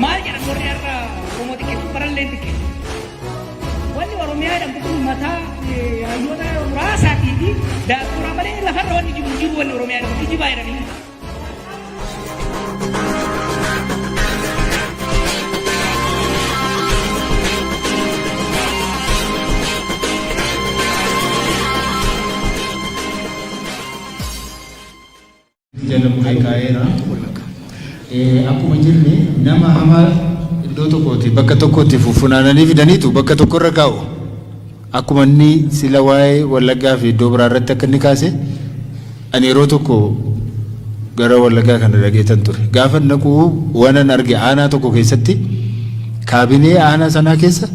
maal jedhan warri har'a Oromoo xiqqeessu baralleen xiqqeessu. Wanni Oromiyaa jedhamtu kun mataa hayyoota muraasaatii fi daakkuraa malee lafarra wanni jiru jiru wanni Oromiyaa jedhamtu jibaa jedhanii. jalqabee kaa'eera. Akkuma jirne nama hamaa iddoo tokkooti bakka tokkotti funaananii fidaniitu bakka tokkorra kaa'u. Akkuma inni sila waa'ee Wallaggaa fi iddoo biraa irratti akka inni kaase ani yeroo tokko gara Wallaggaa kana dhaqeetan ture. Gaafan dhaqu waanan arge aanaa tokko keessatti kaabinee aanaa sanaa keessa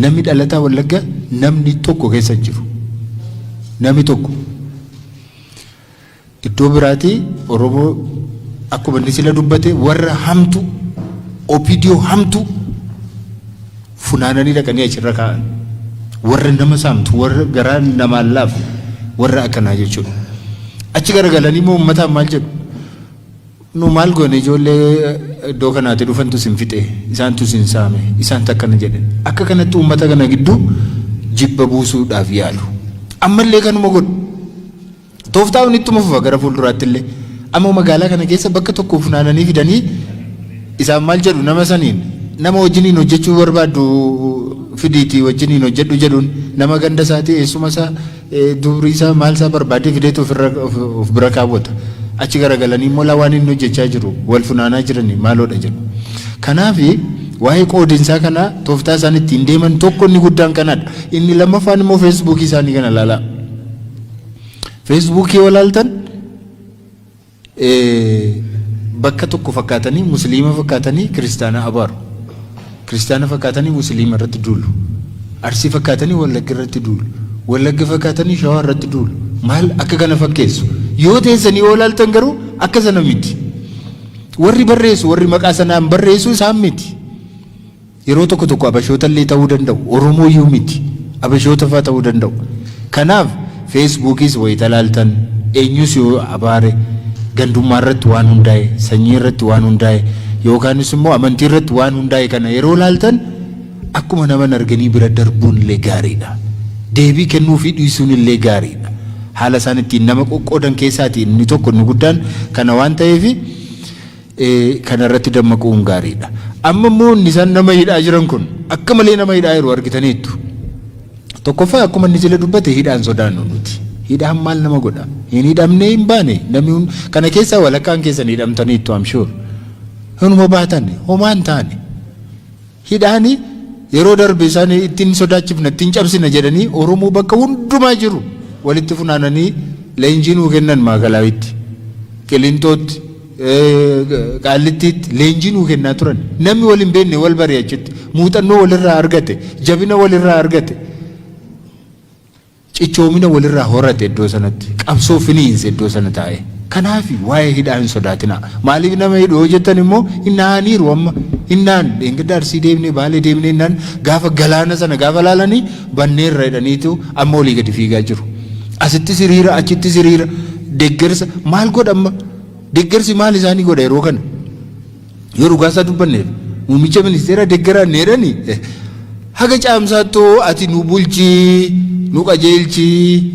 namni dhalataa Wallaggaa namni tokko keessa hin jiru. Namni tokko. Iddoo biraatii Oromoo akkuma inni sila dubbate warra hamtu OPDO hamtu funaananii dhaqanii achirra kaa'an. Warra nama saamtu warra garaa namaan laafu warra akkanaa jechuudha. Achi garagalanii immoo uummataan maal jedhu? Nu maal goone ijoollee iddoo kanaati dhufantu sin fixe isaantu sin saame isaantu akkana jedhan. Akka kanatti uummata kana gidduu jibba buusuudhaaf yaalu. Ammallee kanuma godhu. Tooftaa kun ittuma fufa gara fuulduraatti illee. Amma magaalaa kana keessa bakka tokko funaananii fidanii isaan maal jedhu nama saniin nama wajjiniin hojjechuu barbaaddu fidiitii wajjiniin hojjedhu jedhuun nama ganda isaatii eessuma isaa dubrii isaa maal isaa barbaadee fideetu ofirra of bira kaawwata. Achi garagalanii immoo laa waan inni hojjechaa jiru wal funaanaa jiranii maaloodha jedhu. Kanaaf waa'ee qoodinsaa kanaa tooftaa isaan ittiin deeman tokko inni guddaan kanadha. Inni lammaffaan immoo feesbuukii isaanii kana ilaalaa. Feesbuukii yoo ilaaltan bakka tokko fakkaatanii musliima fakkaatanii kiristaana abaaru. Kiristaana fakkaatanii musliima irratti duulu. Arsii fakkaatanii wallagga irratti duulu. Wallagga fakkaatanii shawaa irratti duulu. Maal akka kana fakkeessu. Yoo teessanii yoo ilaaltan garuu akka sana miti. Warri barreessu warri maqaa sanaan barreessu isaan miti. Yeroo tokko tokko Abashoota illee ta'uu danda'u. Oromoo iyyuu miti. Abashoota faa ta'uu danda'u. Kanaaf Feesbuukiis wayita ilaaltan, eenyus yoo abaare, gandummaa irratti waan hundaa'e, sanyii irratti waan hundaa'e, yookaanis immoo amantii irratti waan hundaa'e kana yeroo ilaaltan akkuma naman arganii bira darbuun illee gaarii dha. Deebii kennuufii dhiisuun illee gaarii dha. Haala isaan ittiin nama qoqqoodan keessaati inni tokko inni guddaan kana waan ta'eef, kana irratti dammaquun gaariidha. Amma immoo inni isaan nama hidhaa jiran kun akka malee nama hidhaa jiru argitaniittu. Tokkoffaa akkuma inni jila dubbate hidhaan sodaannu nuti. Hidhaan maal nama godha? Hin hidhamnee hin baane namni hun- kana keessaa walakkaan keessan hidhamtaniittu I'm sure. Hinuma baatan homaa hin taane. Hidhaani yeroo darbe isaan itti hin sodaachifna, itti hin cabsina jedhanii Oromoo bakka hundumaa jiru walitti funaananii leenjii nuu kennan Maakalaawiitti, Qilinxootti, Qaallittiitti leenjii nuu kennaa turan. Namni wal hin beekne wal bare achitti. Muuxannoo walirraa argate, jabina walirraa argate. Cichoomina walirraa horate iddoo sanatti. Qabsoo finiinse iddoo sana taa'ee. Kanaafi waa'ee hidhaa hin sodaatinaa. Maaliif nama hidhu yoo jettan immoo hin dhahaniiru amma. Hin dhahan. Dheengadda Arsii deemnee, Baalee deemnee jennaan gaafa galaana sana gaafa laalanii banneerra jedhaniitu amma olii gadi fiigaa jiru. Asittis hiriira, achittis hiriira. Deggersa maal godha amma? Deggersi maal isaanii godha yeroo kana? Yoo dhugaa isaa dubbanneef muummicha ministeera deggara needhani haga caamsaattoo ati nu bulchii nu qajeelchii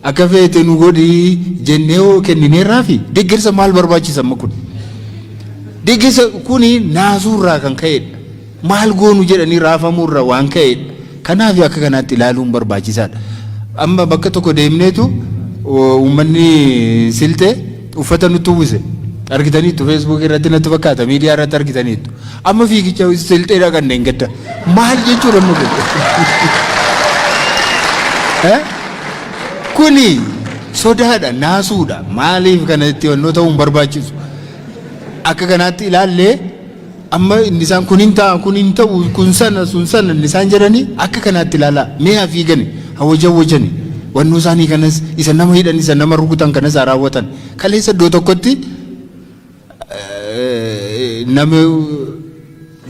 akka feete nu godhii jennee hoo kennineerraa fi deggersa maal barbaachisa amma kun? Deggersa kuni naasuurraa kan ka'edha. Maal goonu jedhanii raafamuurra waan ka'eedha. Kanaafi akka kanaatti ilaaluun barbaachisaadha. Amma bakka tokko deemneetu uummanni Silxee uffata nutti uwwise. Argitaniittu feesbuukii irratti natti fakkaata miidiyaa irratti argitaniittu. Amma fiigicha Silxee dhaqanne hin gadda. Maal jechuudha amma kun? Eh? Kuni sodaadha, naasuudha. Maaliif kanatti wannoo ta'uu hin barbaachisu. Akka kanaatti ilaallee Amma inni isaan kun hin ta'a, kun hin ta'u, kun sana, sun sana inni isaan jedhanii akka kanaatti ilaalaa mee haa fiigani, haa wajawwajani. Wannoo isaanii kanas isa nama hidhan, isa nama rukutan kanas haa raawwatan. Kaleessa iddoo tokkotti nama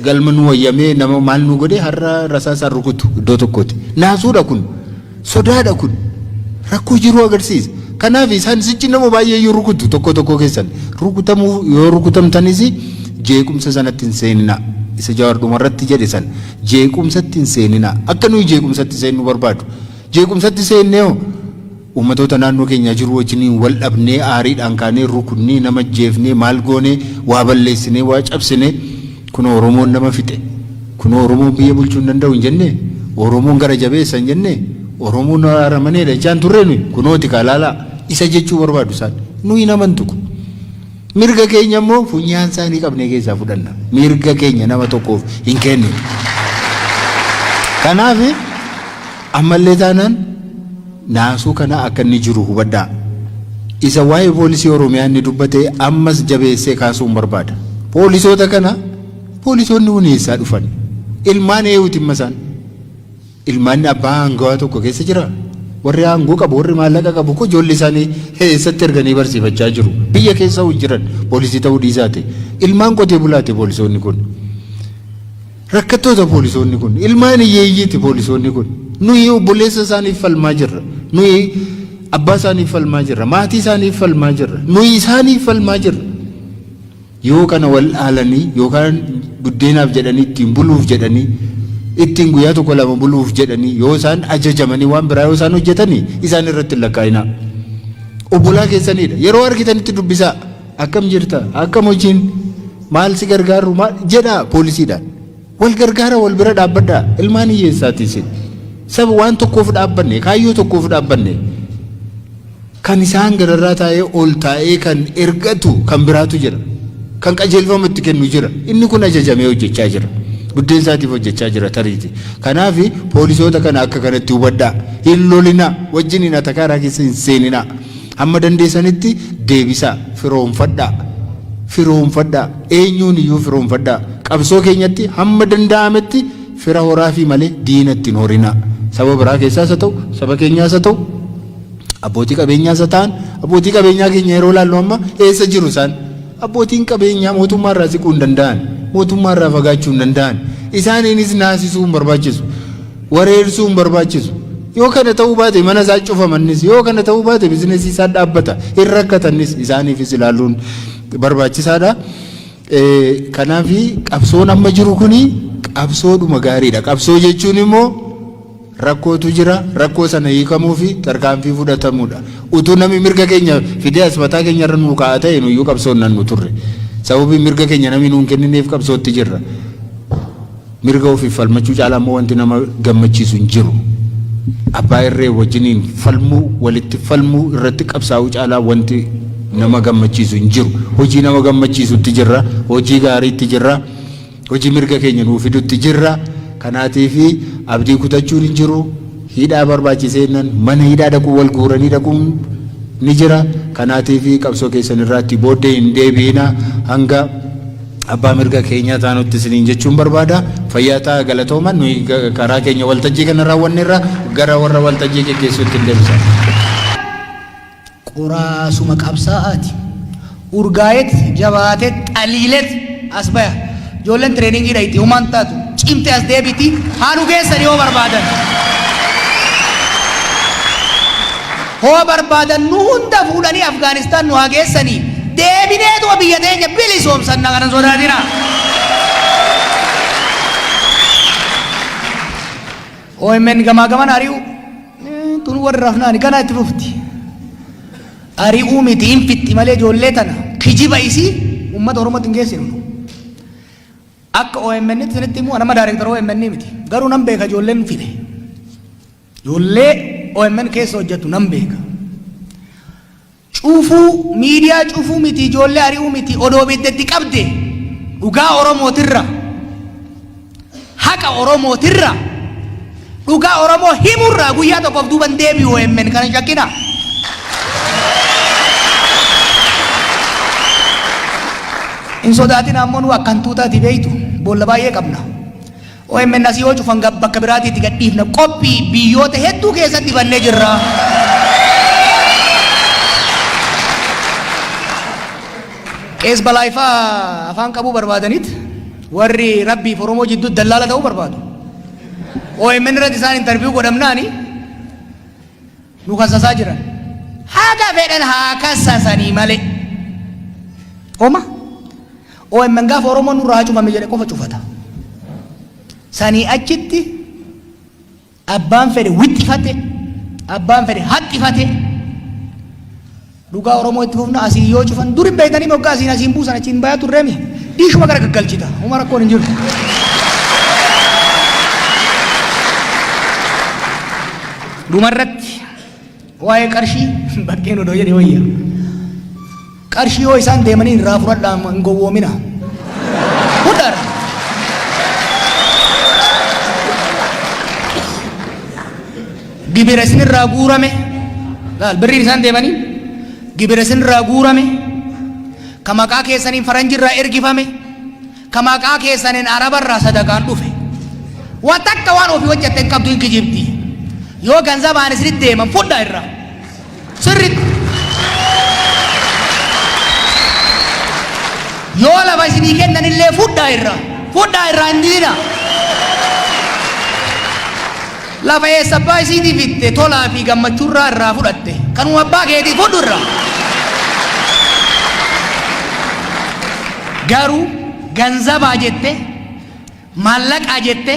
galma nu wayyamee nama maal nu godhe har'a rasaasaan rukutu iddoo tokkooti. Naasuudha kun. Sodaadha kun rakkoo jiruu agarsiisa. Kanaaf isaan sichi nama baay'ee yoo rukutu tokko tokko keessan rukutamuu yoo rukutamtanis jeequmsa sanatti hin seeninaa. Isa jawaar dhumarratti jedhe san jeequmsatti hin seeninaa. Akka nuyi jeequmsatti seennu barbaadu. Jeequmsatti seennee hoo uummatoota naannoo keenyaa jiru wajjiniin wal dhabnee aariidhaan kaanee rukunnee nama jeefnee maal goonee waa balleessinee waa cabsinee Kunoo Oromoon nama fixe, kunoo Oromoon biyya bulchuu hin danda'u hin jennee? Oromoon gara jabeessa hin jennee? Oromoon aramaneedha jechaa hin turree nuyi? Kunooti kaa ilaalaa isa jechuu barbaadu isaan. Nuyi hin amantu kun. Mirga keenya immoo funyaan isaanii qabnee keessaa fudhanna. Mirga keenya nama tokkoof hin kenninu. Kanaaf Ammallee taanaan naasuu kana akka inni jiru hubadhaa. Isa waa'ee poolisii Oromiyaa inni dubbate ammas jabeessee kaasuun barbaada. Poolisoota kana poolisoonni kun eessaa dhufan? Ilmaan eeyuuti imma isaan? Ilmaan abbaa aangawaa tokko keessa jiraa? Warri aangoo qabu, warri maallaqa qabu koo ijoollee isaanii eessatti erganii barsiifachaa jiru? Biyya keessa hojii jiran poolisii ta'uu dhiisaati. Ilmaan qotee bulaati poolisoonni kun. Rakkattoota poolisoonni kun. Ilmaan hiyyeeyyiiti poolisoonni kun. Nuyi obboleessa isaaniif falmaa jirra. Nuyi abbaa isaaniif falmaa jirra. Maatii isaaniif falmaa jirra. Nuyi isaaniif falmaa jirra. Yoo kana wal dhaalanii yookaan buddeenaaf jedhanii ittiin buluuf jedhanii ittiin guyyaa tokko lama buluuf jedhanii yoo isaan ajajamanii waan biraa yoo isaan hojjetanii isaan irratti hin lakkaa'inaa. Obbolaa keessaniidha. Yeroo argitanitti dubbisaa. Akkam jirta? Akkam hojiin? Maal si gargaarru? Maal jedhaa poolisiidhaan. Wal gargaara wal bira dhaabbadhaa. Ilmaan hiyyeessaati isin. Saba waan tokkoof dhaabbanne, kaayyoo tokkoof dhaabbanne. Kan isaan gararraa taa'ee ol taa'ee kan ergatu kan biraatu jira. Kan qajeelfama itti kennu jira. Inni kun ajajamee hojjechaa jira. Buddeen isaatiif hojjechaa jira tariiti. Kanaaf poolisoota kana akka kanatti hubadhaa. Hin lolinaa. Wajjin hin atakaaraa keessa hin seeninaa. Hamma dandeessanitti deebisaa, firoomfadhaa, firoomfadhaa, eenyuun iyyuu firoomfadhaa. Qabsoo keenyatti hamma danda'ametti fira horaafii malee diina itti hin horinaa. Saba biraa keessaas haa ta'u, saba keenyaas haa ta'u, abbootii qabeenyaas haa ta'an, abbootii qabeenyaa keenya yeroo ilaallu amma eessa jiru isaan? Abbootiin qabeenyaa mootummaa irraa siquu hin danda'an, mootummaa irraa fagaachuu hin danda'an. Isaaniinis naasisuu hin barbaachisu, wareersuu hin barbaachisu. Yoo kana ta'uu baate mana isaa cufamannis, yoo kana ta'uu baate bizinesii isaa dhaabbata, hin rakkatannis isaaniifis ilaaluun barbaachisaadha. Kanaaf qabsoon amma jiru kuni qabsoodhuma gaariidha. Qabsoo jechuun immoo rakkootu jira rakkoo sana hiikamuufi tarkaanfii fudhatamuudha. Utuu namni mirga keenya fidee as mataa keenya irra nuu kaa'a ta'e nuyyuu qabsoo hin dhannu turre. Sababii mirga keenya namni nuu hin kennineef qabsootti jirra. Mirga ofiif falmachuu caalaa immoo wanti nama gammachiisu hin jiru. Abbaa irree wajjiniin falmuu, walitti falmuu, irratti qabsaa'uu caalaa wanti nama gammachiisu hin jiru. Hojii nama gammachiisutti jirra, hojii gaariitti jirra. Hojii mirga keenya nuu fidutti jirra. Kanaatiif abdii kutachuun hin jiru. Hidhaa barbaachisee jennaan mana hidhaa dhaquu wal guuranii dhaquun ni jira. Kanaatiif qabsoo keessan irraatti booddee hin deebi'ina. Hanga abbaa mirga keenyaa taanutti isiniin jechuun barbaada. Fayyaa ta'aa galatooma. Nuyi karaa keenya waltajjii kana raawwanneerra gara warra waltajjii geggeessuutti hin deebisa. Qoraasuma qabsaa'aati. Urgaa'eet, jabaateet, xaliileet as baya. Ijoolleen tireeningii dhayxi, homaa hin taatu. Cimte as deebiti, haa dhugeessan yoo barbaadan. Hoo barbaadan nu hunda fuudhanii Afgaanistaan nu haa geessanii. Deebineetuma biyya teenya bilisoomsanna kana hin sodaatinaa. OMN gamaa gaman ari'uu. Tun warra rafnaani ganaa itti fufti. Ari'uu miti hin fixxi malee ijoollee tana kijiba isii uummata Oromootti hin geessinu. Akka OMN tti isinitti immoo nama daayirektara OMN miti. Garuu nan beeka ijoolleen fide. Ijoollee OMN keessa hojjettu nan beeka. Cufuu miidiyaa cufuu miti ijoollee ari'uu miti odoo ibidda itti qabde dhugaa oromootirra haqa oromootirra dhugaa oromoo himurraa guyyaa tokkoof duuban deebi'u emmen kana hin shakkina hin sodaatin ammoo nu akkan tuutaati beeytu boolla baay'ee qabna Omn asii yoo cufan gab bakka biraatii itti gadhiifna qophii biyyoota hedduu keessatti bannee jirra. Qees balaayifaa afaan qabuu barbaadaniit warri rabbiif Oromoo jidduu dallaala ta'uu barbaadu. OMN irratti isaan interviyuu godhamnaani nu kasasaa jiran haga fedhan haa kasasanii malee oma omn gaafa oromoon nurraa haa cufame jedhe qofa cufata sanii achitti abbaan fedhe wixxifate abbaan fedhe haxxifate Dhugaa oromoo itti fufna asiin yoo cufan duri beektanii moggaa asiin asiin buusan achiin bayaa turreemi dhiishuma gara gaggalchita huma rakkoon hin jiru. Dhumarratti waa'ee qarshii bakkeen odoo jedhe wayya. Qarshii yoo isaan deemanii irraa fudhadhaa hin gowwoomina. Fudhaadha. gibira isinirraa guurame laal birriin isaan deemanii gibira isinirraa guurame ka maqaa keessaniin faranjirraa ergifame ka maqaa keessaniin arabarraa sadaqaan dhufe waa takka waan ofii hojjette hin qabdu hin kijibdi yoo ganzabaan isinitti deeman fudhaa irraa Sirritti. Yoo lafa isinii kennan illee fudhaa irraa. Fudhaa irraa hin diina. Lafa eessa abbaa isiitii fitte tolaa fi gammachuurraa irraa fudhatte. Kanuma abbaa keetii fudhu irraa. Garuu ganzabaa jette maallaqaa jette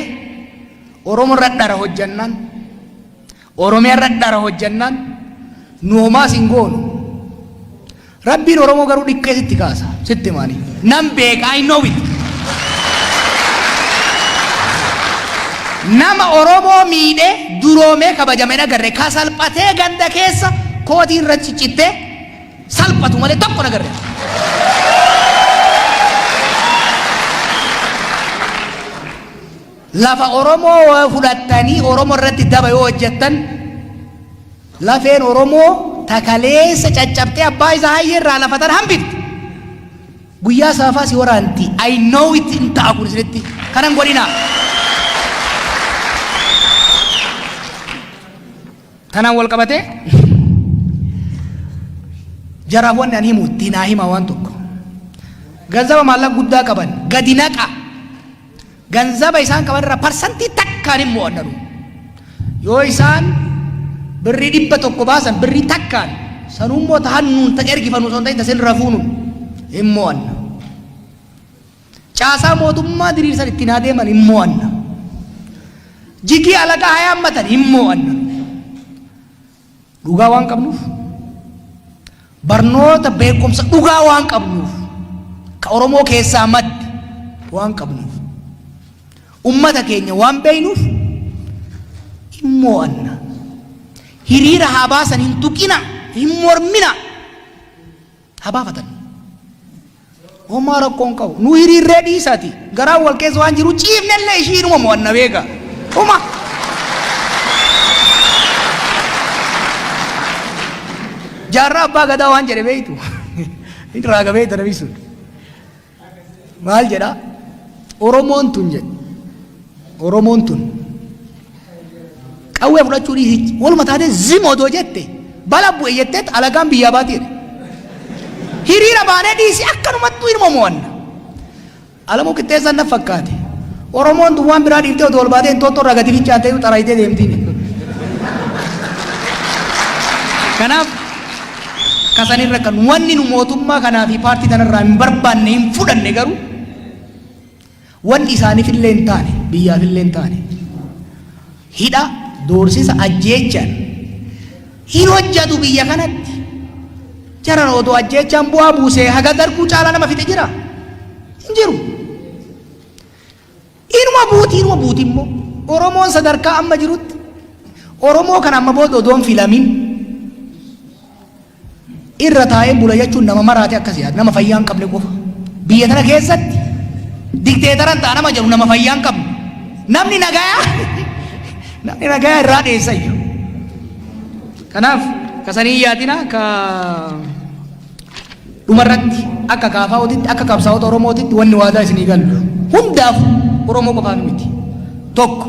Oromoo irra dhara hojjannaan Oromiyaa irra dhara hojjannaan nu homaa sin goonu. Rabbiin Oromoo garuu dhiqqee sitti kaasa. Sitti maani. Nan beeka I know it. Nama Oromoo miidhee duroomee kabajame hin agarre ka salphatee ganda keessa kootii irra ciccittee salphatu malee tokko hin agarre. Lafa Oromoo yoo fudhattanii Oromo irratti daba yoo hojjettan lafeen Oromoo takaleessa caccabtee abbaa isaa hayyee irraa lafa tan hambifte. Guyyaa saafaa si waraanti. I know it hin ta'a kun isinitti. Kanan godhinaa. Tanaan wal qabatee jaraaf wanni ani himu ittiin haa hima waan tokko. Ganzaba maallaqa guddaa qaban gadi naqa. ganzaba isaan qaban irraa parsantii takkaan hin mo'anna nu yoo isaan birrii dhibba tokko baasan birrii takkaan sanuun moo ta hannuun ta ergifannu osoo hin ta'in ta sin rafuunu hin mo'anna caasaa mootummaa diriirsan ittiin haa deeman hin mo'anna jigii alagaa haa yaammatan hin mo'anna Dhugaa waan qabnuuf barnoota beekumsa dhugaa waan qabnuuf ka Oromoo keessaa madde waan qabnuuf ummata keenya waan beeynuuf hin moo'anna hiriira haa baasan hin tuqina hin mormina ha baafatan. Homaa rakkoo hin qabu. Nu hiriirree dhiisaati. Garaan wal keessa waan jiru ciifnellee ishii inuma mo'anna beeka. Homa. Jaarraa abbaa gadaa waan jedhe beektu. Inni raaga beekta namni sun. Maal jedha? Oromoon tun jedhe. Oromoon tun. Qawwee fudhachuu dhiisii waluma taatee zim odoo jette bala bu'e jettee alagaan biyyaa baatee jedhe. Hiriira baanee dhiisii akkanumatti ilma mo'anna. Alamuu qixxeessaan na fakkaate. Oromoon tun waan biraa dhiiftee odoo ol baatee hin toottorraa gadi fincaattee xaraayitee deemtiin. Kanaaf kasan irra kan wanni nu mootummaa kanaa fi paartii tanarraa hin barbaanne hin fudhanne garuu wanni isaaniif illee hin taane biyyaaf illee hin taane hidha doorsisa ajjeechaan hin hojjatu biyya kanatti jaran odoo ajjeechaan bu'aa buusee haga darguu caalaa nama fixe jira hin jiru. Inuma buuti inuma buuti immoo Oromoon sadarkaa amma jirutti Oromoo kana amma booda odoon filamin irra taa'een bula jechuun nama maraate akkas yaada nama fayyaa hin qabne qofa biyya tana keessatti dikteetaran ta'a nama jedhu nama fayyaa hin qabne namni nagayaa namni nagayaa irraa dheessayyu kanaaf kasanii yaadina ka Dhumarratti, akka KFOtitti, akka qabsaa'ota Oromootitti wanni waadaa isinii gallu, hundaafuu, Oromoo qofaaf miti. Tokko,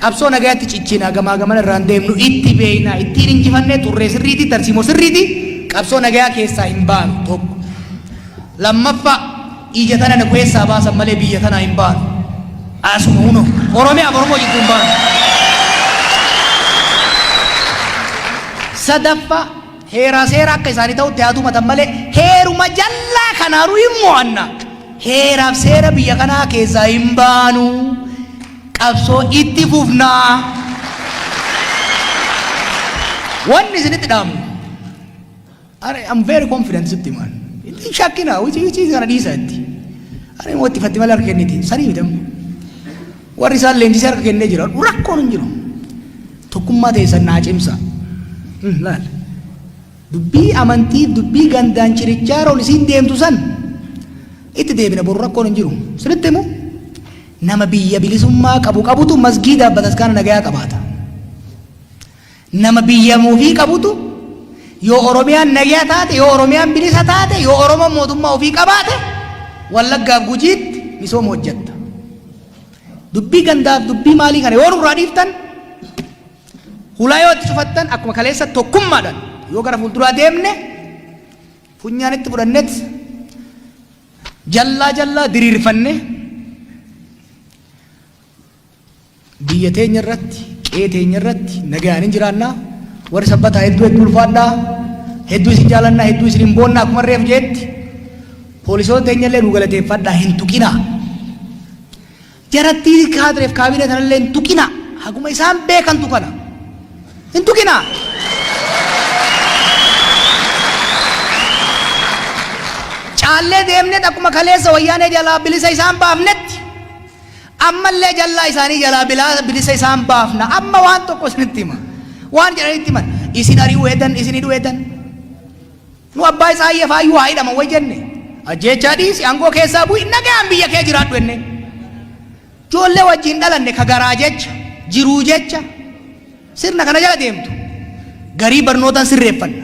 qabsoo nagayatti cichinaa gamaa gamana irraan deemnu itti beeynaa, ittiin hinjifannee turree sirriitii, tarsiimoo sirriitii qabsoo nagayaa keessaa hin baanu. Tokko. Lammaffaa, ija tana nu keessaa baasan malee biyya tanaa hin baanu. Asuma huno, Oromiyaaf Oromoo jidduu hin baanu. Sadaffaa, Heeraa seera akka isaani ta'utti haa tumatan malee heeruma jallaa kanaanu hin mo'anna. Heeraaf seera biyya kanaa keessaa hin baanu. Qabsoo itti fufna. Wanni isinitti dhaamnu. Ani I'm very confident sitti himaan. Itti shakkina hojii hojii kana dhiisa itti. Ani immoo itti fatti malee harka kenniti. Sanii miidhamne. Warri isaan leenjisee harka kennee jiraadhu rakkoon hin jiru. Tokkummaa teessan naa cimsa. Hmm, Laal. Dubbii amantii dubbii gandaan chirichaaroon isiin deemtu san itti deebina boru rakkoon hin jiru. Sinitti himu nama biyya bilisummaa qabu qabutu masgiidaaf bataskaana nagayaa qabaata. Nama biyya ofii qabutu yoo Oromiyaan nagyaa taate, yoo Oromiyaan bilisa taate, yoo Oromoon mootummaa ofii qabaate Wallaggaaf Gujiitti misooma hojjetta. Dubbii gandaaf dubbii maalii kana yoo nurraa dhiiftan hulaa yoo itti cufattan akkuma kaleessa tokkummaadhaan yoo gara fuulduraa deemne funyaan itti fudhannet jallaa jallaa diriirfanne Biyya teenya irratti, qe'ee teenya irratti nagayaan hin jiraanna. Warri sabbataa hedduu hedduu ulfaadhaa. Hedduu isin jaalannaa, hedduu isin hin boonnaa akkuma reef jeetti. Poolisoota teenya illee nu galateeffadhaa hin tuqinaa. Jarattii kaadireef kaabinee tanallee hin tuqinaa. Haguma isaan beekantu kana. Hin tuqinaa. Caallee deemneet akkuma kaleessa wayyaanee jalaa bilisa isaan baafnetti Ammallee jallaa isaanii jalaa bilaa, bilisa isaan baafna. Amma waan tokko isinitti hima. Waan jedhanitti himan. Isin ari'uu hedan, isin hidhuu hedan. Nu abbaa isaa ayya faayyuu haa hidhaman way jenne. Ajjeechaa dhiisi, aangoo keessaa bu'i, nagaan biyya kee jiraadhu jenne. Ijoollee wajjin dhalanne ka garaa jecha, jiruu jecha, sirna kana jala deemtu. Garii barnootaan sirreeffanna.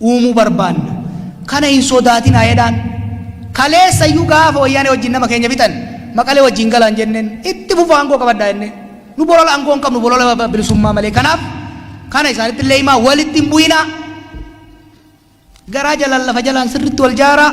uumuu barbaanna. Kana hin sodaatinaa jedhaan. Kaleessa iyyuu gaafa Wayyaanee wajjin nama keenya fixan Maqalee wajjin galaan jenneen itti fufaa aangoo qabadhaa jennee. Nu bolola aangoo hin qabnu bolola bilisummaa malee. Kanaaf kana isaanitti illee himaa walitti hin bu'inaa. Garaa jalaan lafa jalaan sirriitti wal jaaraa.